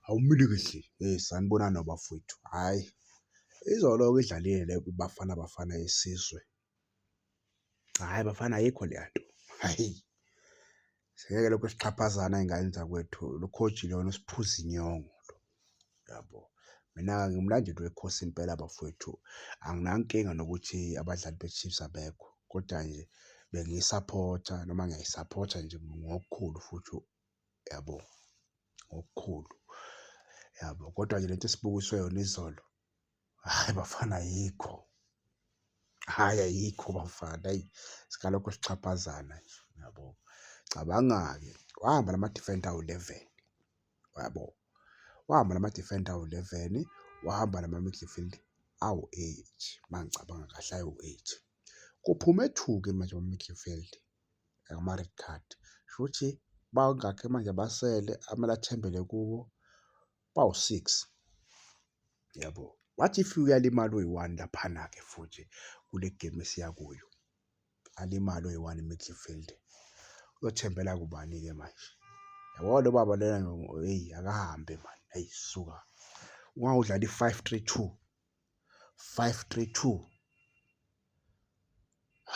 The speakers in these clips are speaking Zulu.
awumile kahle. Eyi sanibonani bafwethu, hhayi izolo-ke idlalile le Bafana Bafana yesizwe, hhayi bafana ayikho leya nto, hhayi singeke lokhu sixhaphazane ey'nganeni zakwethu, lo coach lona usiphuza inyongo lo, yabo. Mina-ke ngumlandeli weKhosi impela bafwethu, anginankinga nokuthi abadlali beChiefs abekho, koda nje bengiyisaphotha noma ngiyayisaphotha nje ngokukhulu futhi. yabo ngokukhulu yabo kodwa ke lento esibukiswe yona izolo hayi bafana ayikho hhayi ayikho bafana ayi sikalokho sixhaphazana nje yabo cabanga-ke wahamba la ma-defender awu-eleven yabo wahamba la ma-defender awu-eleven wahamba la ma-midfield awu-eight uma ngicabanga kahle awu-eight kuphume two-ke manje ama-midfield. ngama-red card. Shuthi bangakhi manje abasele amele athembele kuwo bawu-six yabo. What if uyalimala uyi-one laphana-ke futhi kule game esiya kuyo? Alimale uyi-one i-midfield. Uyothembela kubani-ke manje? Yabo lo baba lena eyi akahambe mani, eyi suka. Ungawudlala i-five three two 532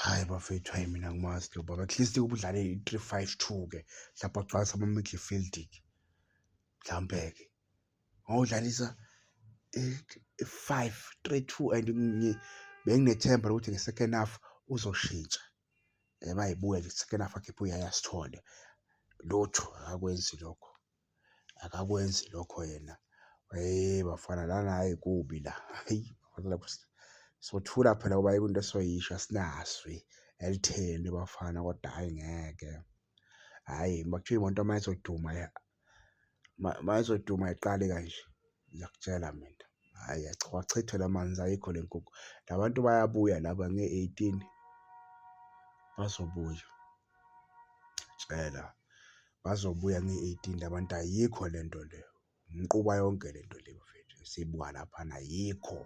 hayi bafethu hayi mina ngimazi lo baba at least ubudlale i-352 ke mhlawumbe agcwalisa ama-midfield ke mhlawumbe ke ngawudlalisa i-five three two and benginethemba lokuthi nge-second half uzoshintsha eba yibuya nje second half akhiphe uyaya sithole lutho akakwenzi lokho. akakwenzi lokho yena. Hhayi bafana lana hhayi kubi la, hhayi sothula phela ngoba ayikho into esoyisho asinazwi elitheni bafana kodwa hhayi ngeke. Hhayi makuthiwa imoto uma izoduma uma izoduma ayiqali kanje. Ngiyakutshela mina, hhayi wachithwa la manzi ayikho le nkukhu. La bantu bayabuya laba nge-eighteen, bazobuya. Ngiyakutshela, bazobuya nge-eighteen la bantu ayikho le nto le, umquba yonke le nto le bafethu esiyibuka laphana ayikho.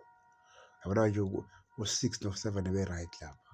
Yabona nje u-six no-seven ebe-right lapha.